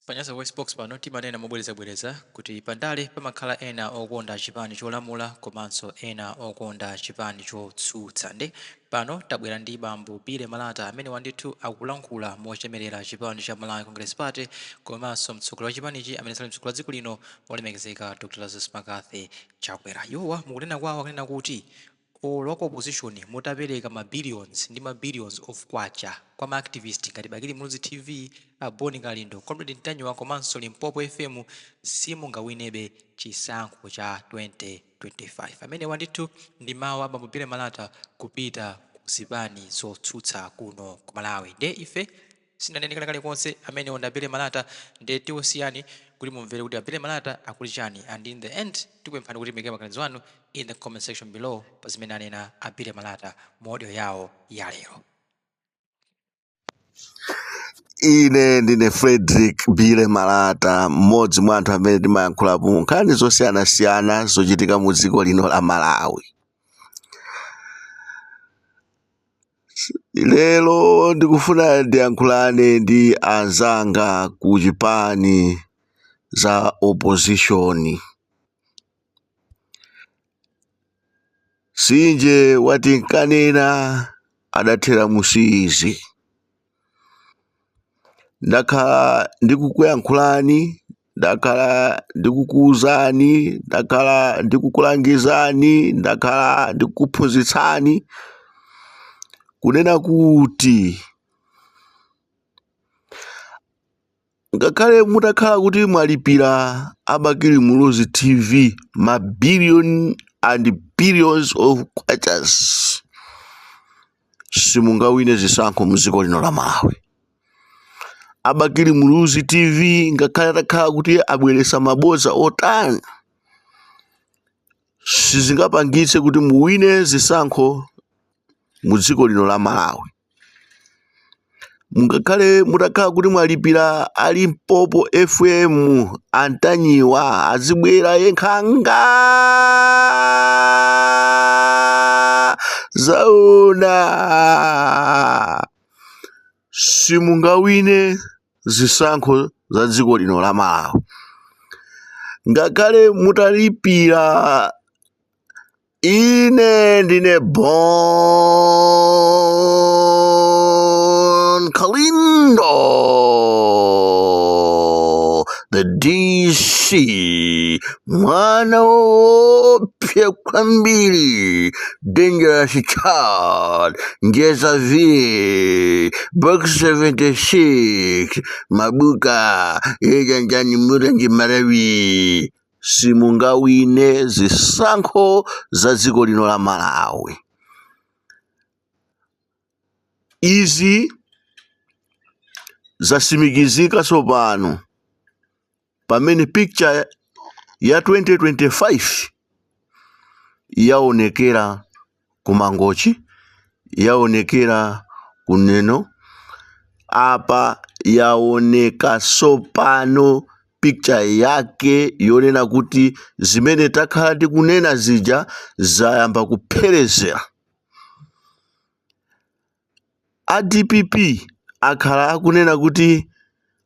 Panyasa VoiceBox pano timanena mobwerezabwereza kuti pandale pamakhala ena okonda chipani cholamula komanso ena okonda chipani chotsutsa nde pano tabwera ndi bambo Billy Malata amenewa ndithu akulankhula mochemerera chipani cha Malawi Congress Party komanso mtsogoleri wa chipanichi amene sali mtsogoleri wa dziko lino olemekezeka Dr. Lazarus Mccarthy Chakwera. Iwowa mukunena kwawo akunena kuti olo a ku opposition mutapeleka ma billions ndi ma billions of kwacha kwa ma activist ngati Bakili Muluzi TV, a Bon Kalindo, Comrade Ntanyiwa komanso Limpopo FM simungawinebe chisankho cha 2025. Amenewa ndithu ndi mawu a Bambo Billy Malata kupita ku zipani zotsutsa kuno ku Malawi. Nde ife. Sitinene kena kalikonse amenewo ndi a Billy Malata nde tikusiyani kuti mumvere kuti a Billy Malata akuti chani and in the end tikupemphani kuti muike maganizo anu in the comment section below pa zimene anena a Billy Malata mu audio yawo ya lero. ine ndine frederick billy malata mmodzi mwa anthu amene timayankhulapo nkhani zosiyanasiyana zochitika mu dziko lino la malawi Lero ndikufuna ndiyankhulane ndi anzanga ku chipani za opposition. Sinje wati nkanena adathera musiizi. Ndakhala ndikukuyankhulani, ndakhala ndikukuwuzani, ndakhala ndikukulangizani, ndakhala ndikukuphunzitsani kunena kuti ngakhale mutakhala kuti mwalipira a bakili muluzi tv ma billion and billions of kwachas simungawine zisankho mdziko lino la malawi a bakili muluzi tv ngakhale atakhala kuti abweresa mabodza otani sizingapangitse kuti muwine zisankho mu dziko lino la malawi mungakhale mutakhala kuti mwalipira a limpopo fm a ntanyiwa azibwera ye nkhanga zaona simungawine zisankho za dziko lino la Malawi ngakhale mutalipira ine ndine Bon Kalindo the DC mwana woopsa kwambiri dangerous child njeza v box 76 mabuka yejanjani murenji marawi simungawine zisankho za dziko lino la malawi izi zasimikizika tsopano pamene picture ya 2025 yaonekera ku mangochi yaonekera ku neno apa yaoneka sopano picture yake yonena kuti zimene takhala tikunena zija zayamba kupherezera a dpp akhala akunena kuti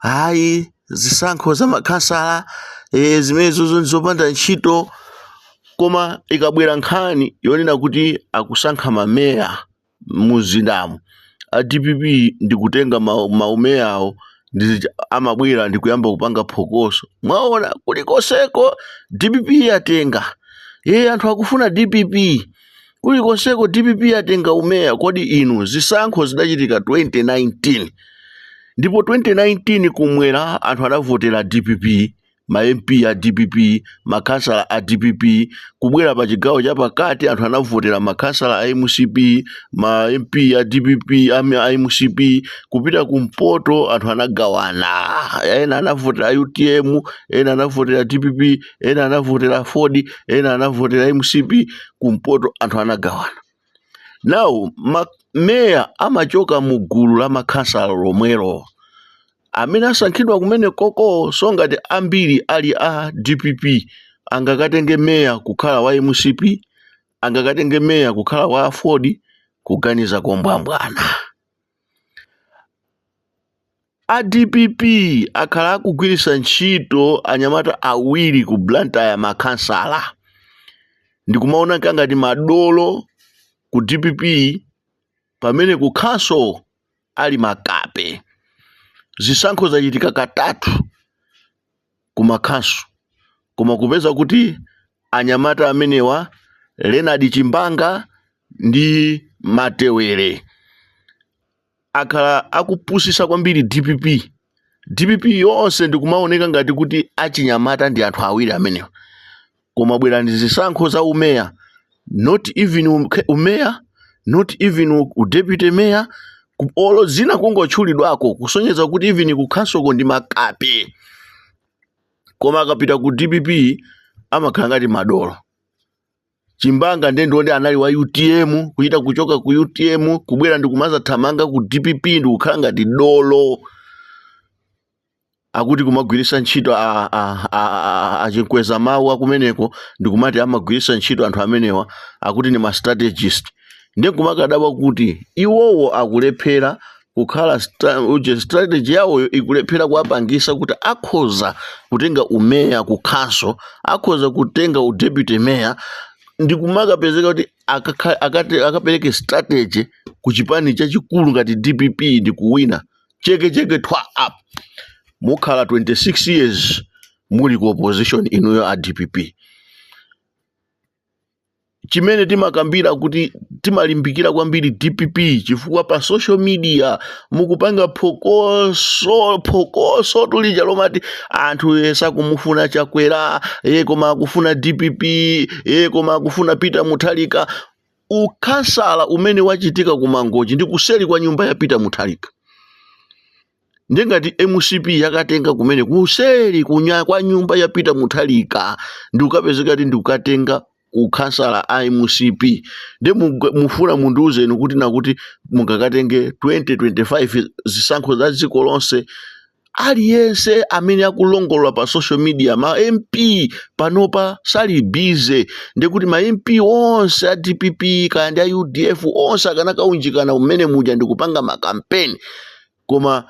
ayi zisankho za makhansala eh, zimenezozo ndizopanda ntchito koma ikabwera nkhani yonena kuti akusankha mameya muzindamu a dpp ndikutenga ma- maumeyawo amabwera ndikuyamba kupanga phokoso mwaona kulikoseko dpp yatenga iye anthu akufuna dpp Kulikonseko dpp yatenga umeya kodi inu zisankho zidachitika 2019 ndipo 2019 kumwera anthu adavotera dpp ma MP a dpp makhansala a dpp kubwera pa chigawo cha pakati anthu anavotera makhansala a mcp ma MP a dpp am- a mcp kupita kumpoto anthu anagawana ena anavotera utm ena anavotera dpp ena anavotera aford ena anavotera mcp kumpoto anthu anagawana now mameya amachoka mu gulu la makhansala lomwelo amene asankhidwa kumene koko so ngati ambiri ali a dpp angakatenge meya kukhala wa mcp angakatenge meya kukhala wa aford kuganiza kombwambwana A dpp akhala akugwiritsa ntchito anyamata awiri ku Blantyre makhansala ndikumaona ngati madolo ku dpp pamene ku council ali makape. Zisankho zachitika katatu ku ma council koma kupeza kuti anyamata amenewa Leonard Chimbanga ndi Matewere akhala akupusisa kwambiri DPP DPP yonse ndikumaoneka ngati kuti achinyamata ndi anthu awiri amenewa koma bwera ndi zisankho za umeya not even um- ke- umeya not even u- u deputy mayor ku- olo dzina kungotchulidwako kusonyeza kuti even kukhansoko ndi makape koma akapita ku dpp amakhala ngati madolo chimbanga nde ndi uyo nde anali wa utm kuchita kuchoka ku utm kubwera ndi kumazathamanga ku dpp ndi kukhala ngati dolo akuti kumagwiritsa ntchito a- a- a- a- achinkweza mawu akumeneko ndikumati amagwiritsa ntchito anthu amenewa akuti ndi mastrategist nde nkumakadabwa kuti iwowo akulephera kukhala stra- uje strategy yawoyo ikulephera kuwapangisa kuti akhoza kutenga umeya ku council akhoza kutenga u deputy mayor ndi kumakapezeka kuti akakha- akati- akapereke strategy ku chipani chachikulu ngati dpp ndi kuwina cheke cheke thwa mukhala 26 years muli ku opposition inuyo a dpp chimene timakambira kuti timalimbikira kwambiri dpp chifukwa pa social media mukupanga pho- phokoso tulija lomati anthu ye sakumufuna chakwera ye koma akufuna dpp ye koma akufuna peter mutharika ukhansala umene wachitika ku mangochi ndi kuseri kwa nyumba ya peter mutharika nde ngati mcp yakatenga kumene kuseri kunya- kwa nyumba ya peter mutharika ndikukapezeka kuti ndikukatenga ukhansala a mcp nde mug- mufuna mundiuze inu kuti nakuti mungakatenge 2025 zisankho za dziko lonse aliyense amene akulongolola pa social media ma mp panopa sali bize ndikuti ma mp onse a dpp kaya ndi a udf onse akanakaunjikana mmene muja ndikupanga makampeni koma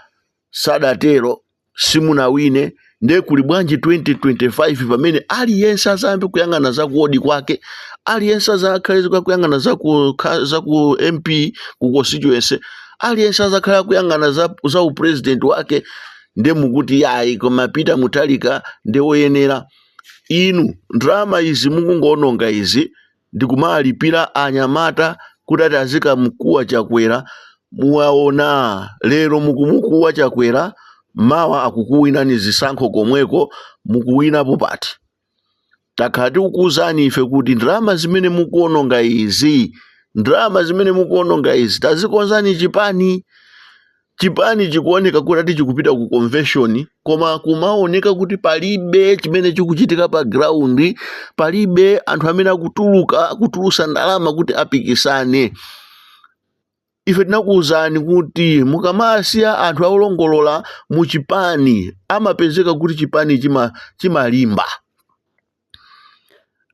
sadatero simunawine nde kuli bwanji 2025 pamene aliyense azambe kuyang'ana za kuodi kwake aliyense azakhale akuyang'ana za ku, kha- za ku mp ku constituency aliyense azakhala akuyang'ana za, za upresident wake nde mukuti yayi koma peter mutharika nde woyenera inu ndalama izi mukungoononga izi ndikumalipira anyamata kuti ati azikamkuwa chakwera muwaona lero mukumukuwa chakwera mawa akukuwinani zisankho komweko mukuwinapo pati takhala tikukuwuzani ife kuti ndalama zimene mukuononga izi ndalama zimene mukuononga izi tazikonzani chipani chipani chikuoneka kuti ati chikupita ku convention koma kumaoneka kuti palibe chimene chikuchitika pa ground palibe anthu amene akutuluka kutulusa ndalama kuti apikisane ife tinakuwuzani kuti mukamasiya anthu olongolola mu chipani amapezeka kuti chipani chimalimba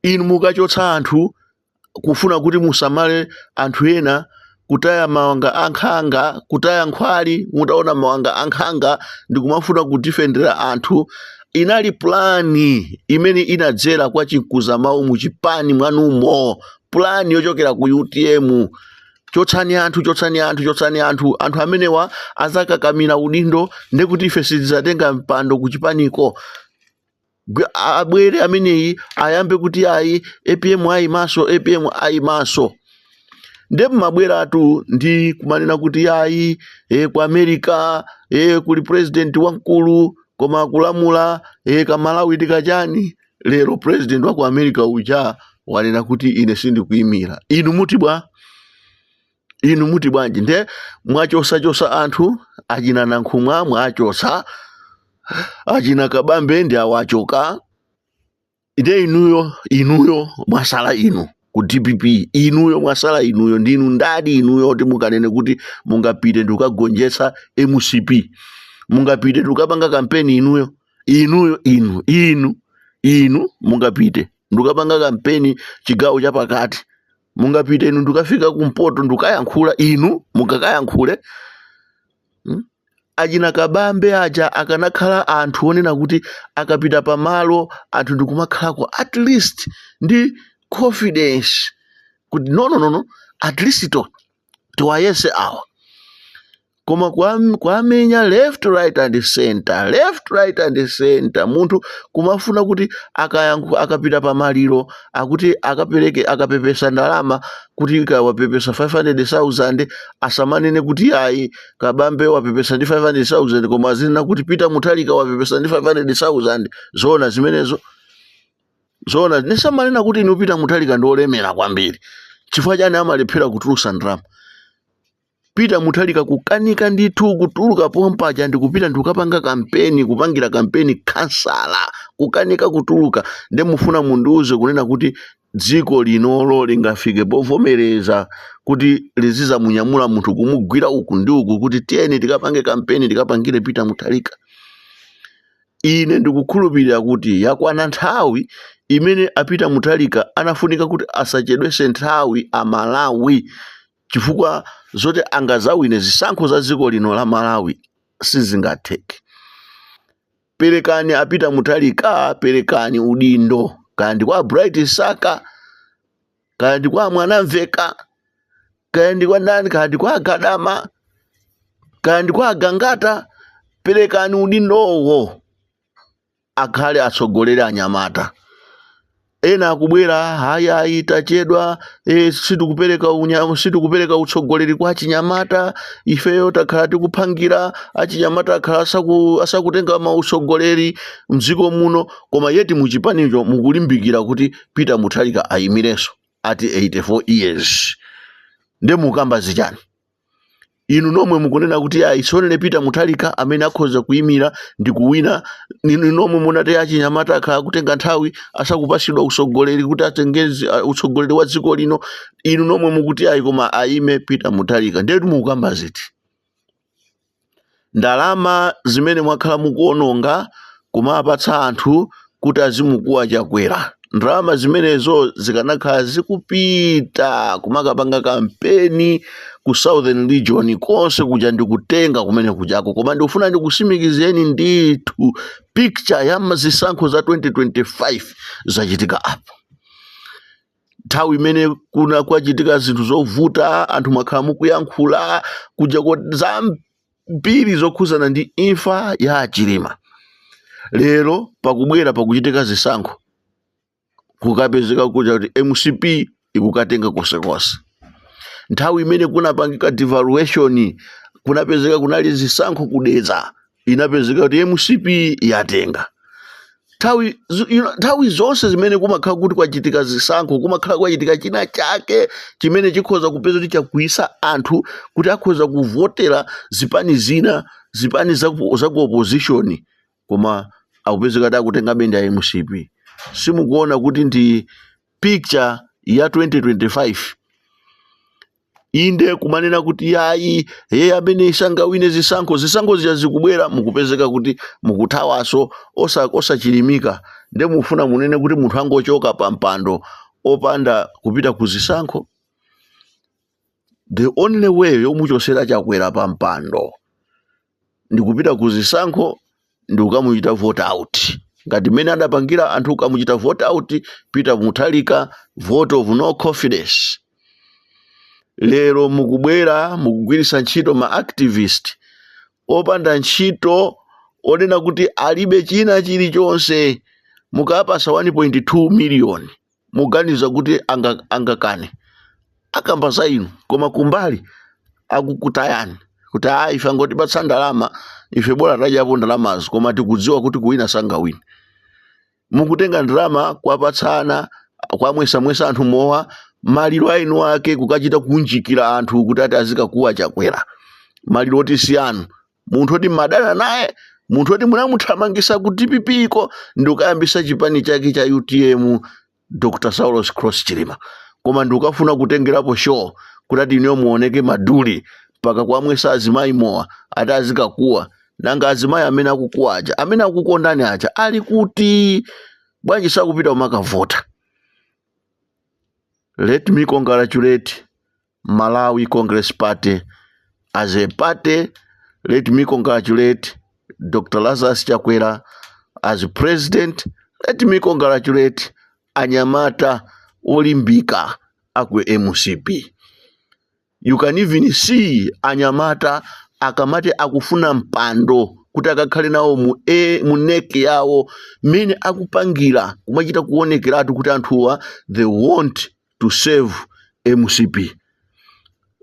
inu mukachotsa anthu kufuna kuti musamale anthu ena kutaya mawanga ankhanga kutaya nkhwali mutaona mawanga ankhanga ndikumafuna kudifendera anthu inali pulani imene inadzera kwa chinkuza mawu mu chipani mwanumo pulani yochokera ku utm chotsani anthu chotsani anthu chotsani anthu anthu amenewa azakakamira udindo ndekuti ife sitizatenga mpando kuchipaniko Gwe- a- abwere ameneyi ayambe kuti ayi apm ayi maso apm ayi maso nde mumabweratu ndi kumanena kuti yayi e, ku america e, kuli president wamkulu koma akulamula e, kamalawi tikachani lero president wa ku america uja wanena kuti ine sindikuimira inu muti bwa inu muti bwanji nde mwachosachosa anthu achina nankhumwa mwachosa achina kabambe ndi awachoka nde inuyo inuyo mwasala inu ku dpp inuyo mwasala inuyo ndinu ndani inuyo kuti mukanene kuti mungapite ndikukagonjetsa mcp mungapite ndikukapanga kampeni inuyo inuyo inu inu inu mungapite ndikukapanga kampeni chigawo chapakati mungapite inu ndikafika kumpoto ndikayankhula inu mungakayankhule hmm? achina kabambe aja akanakhala anthu onena kuti akapita pamalo anthu ndikumakhalako at least ndi confidence kuti nononono at least to tiwayese awa koma kuwamenya left right and center left right and center munthu kumafuna kuti akapita pa maliro akuti akapereke akapepesa ndalama kuti akapepesa 500000 asamanene kuti ayi kabambe wapepesa ndi 500000 koma azinena kuti peter mutharika wapepesa ndi 500000 zoona zimenezo zoona ndisamanena kuti inu peter mutharika ndi olemera kwambiri chifukwa chani amalephera kutulusa ndalama peter mutharika kukanika ndithu kutuluka pompaja ndikupita ndikukapanga kampeni kupangira kampeni khansala kukanika kutuluka nde mufuna mundiuze kunena kuti dziko linolo lingafike povomereza kuti lizizamunyamula munthu kumugwira uku ndi uku kuti tiyeni tikapange kampeni tikapangire peter mutharika ine ndikukhulupirira kuti yakwana nthawi imene a peter mutharika anafunika kuti asachedwese nthawi amalawi chifukwa zoti angazawine zisankho za dziko lino la malawi sizingatheke Perekani a Peter Mutharika, perekani udindo, kaya ndi kwa a Bright Saka, kaya ndi kwa a Mwanamveka, kaya ndi kwa ndani, kaya ndi kwa a Gadama, kaya ndi kwa a Gangata, perekani udindowo akhale atsogolere anyamata. Ena akubwera, ayi, ayi, tachedwa, e, sitikupereka unya, sitikupereka utsogoleri kwa achinyamata, ifeyo takhala tikuphangira, achinyamata akhala asaku, asakutenga mautsogoleri mdziko muno, koma yeti muchipanicho mukulimbikira kuti Peter Mutharika ayimirenso ati 84 years. Nde mukamba zichani? inu nomwe mukunena kuti ayi so only peter muthalika amene akhoza kuyimira ndi kuwina inu nomwe munati achinyamata akhala akutenga nthawi asakupasidwa utsogoleri kuti atenge zi uh, utsogoleri wa dziko lino inu nomwe mukuti ayi koma ayime peter muthalika ndiye kuti mukukamba ziti ndalama zimene mwakhala mukuononga kumapatsa anthu kuti azimukuwa chakwera ndalama zimenezo zikanakhala zikupita kumakapanga kampeni ku southern region konse kuja ndikutenga kumene kujako koma ndikufuna ndikusimikizeni ndithu picture ya zisankho za 2025 zachitika apo nthawi imene kuna- kwachitika zinthu zovuta anthu mwakhala mukuyankhula kujako zambiri zokhuzana ndi imfa ya a Chilima lero pakubwera pakuchitika zisankho kukapezeka kuja kuti mcp ikukatenga konsekonse nthawi imene kunapangika devaluation kunapezeka kunali zisankho ku Dedza inapezeka kuti mcp yatenga nthawi zo- you know, nthawi zonse zimene kumakhala kuti kwachitika zisankho kumakhala kwachitika china chake chimene chikhoza kupeza kuti chakwiyisa anthu kuti akhoza kuvotera zipani zina zipani za ku za ku opposition koma akupezeka kuti akutenga ben ndi a mcp simukuona kuti ndi picture ya 2025 inde kumanena kuti yayi ye amene sangawine zisankho zisankho zija zikubwera mukupezeka kuti mukuthawanso osa osachilimika nde mufuna munene kuti munthu angochoka pa mpando opanda kupita ku zisankho the only way yomuchosera chakwera pa mpando ndikupita ku zisankho ndikukamuchita vote out ngati mmene adapangira anthu kukamuchita vote out peter muthalika vote of no confidence lero mukubwera mukugwiritsa ntchito ma activist opanda ntchito onena kuti alibe china chilichonse mukawapasa 1.2 miliyoni muganiza kuti angakane akamba za inu koma kumbali akukutayani kuti ayi ife angotipatsa ndalama ife bola tadyapo ndalamazo koma tikudziwa kuti kuwina sangawine mukutenga ndalama kuwapatsana kuwamwesamwesa anthu mowa maliro a inu ake kukachita kunjikira anthu kuti ati azikakuwa chakwera maliro oti si anu munthu oti mmadana naye munthu oti munamuthamangisa ku dpp iko ndikukayambisa chipani chake cha utm dr saulos klaus chilima koma ndikukafuna kutengerapo show kuti ati ineyo muoneke maduli mpaka kuwamwesa azimayi mowa ati azikakuwa nanga azimayi amene akukuwa aja amene akukondani aja ali kuti bwanji sakupita kumakavota let me congratulate Malawi Congress Party. As a party, let me congratulate Dr. Lazarus Chakwera as president. Let me congratulate anyamata olimbika aku MCP. You can even see anyamata akamati akufuna mpando kuti akakhale nawo mu e mu NEC yawo mmene akupangira kumachita kuonekeratu kuti anthuwa they want to serve mcp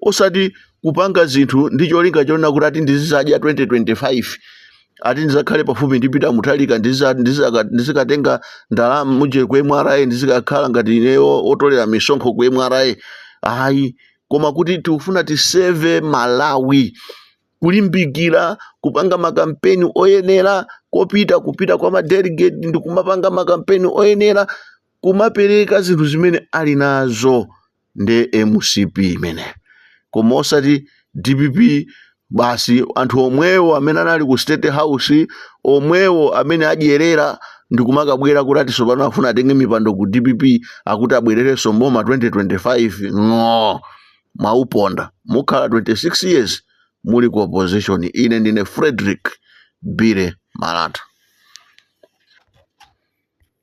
osati kupanga zinthu ndi cholinga chonena kuti ati ndizizadya 2025 ati ndizakhale pafupi ndi Peter Mutharika ndiza- ndizaka- ndizikatenga ndalama muje ku MRA ndizikakhala ngati ineyo otolera misonkho ku MRA ayi koma kuti tikufuna tiseve Malawi kulimbikira kupanga makampeni oyenera kupita kupita kwa madelegate ndi kumapanga makampeni oyenera kumapereka zinthu zimene ali nazo ndi mcp imene koma osati dpp basi anthu omwewo amene anali ku state house omwewo amene adyerera ndikumakabwera kuti atinso pano afuna atenge mipando ku dpp akuti abwererenso mboma 2025 no mwauponda mukhala 26 years muli ku opposition ine ndine frederick billy malata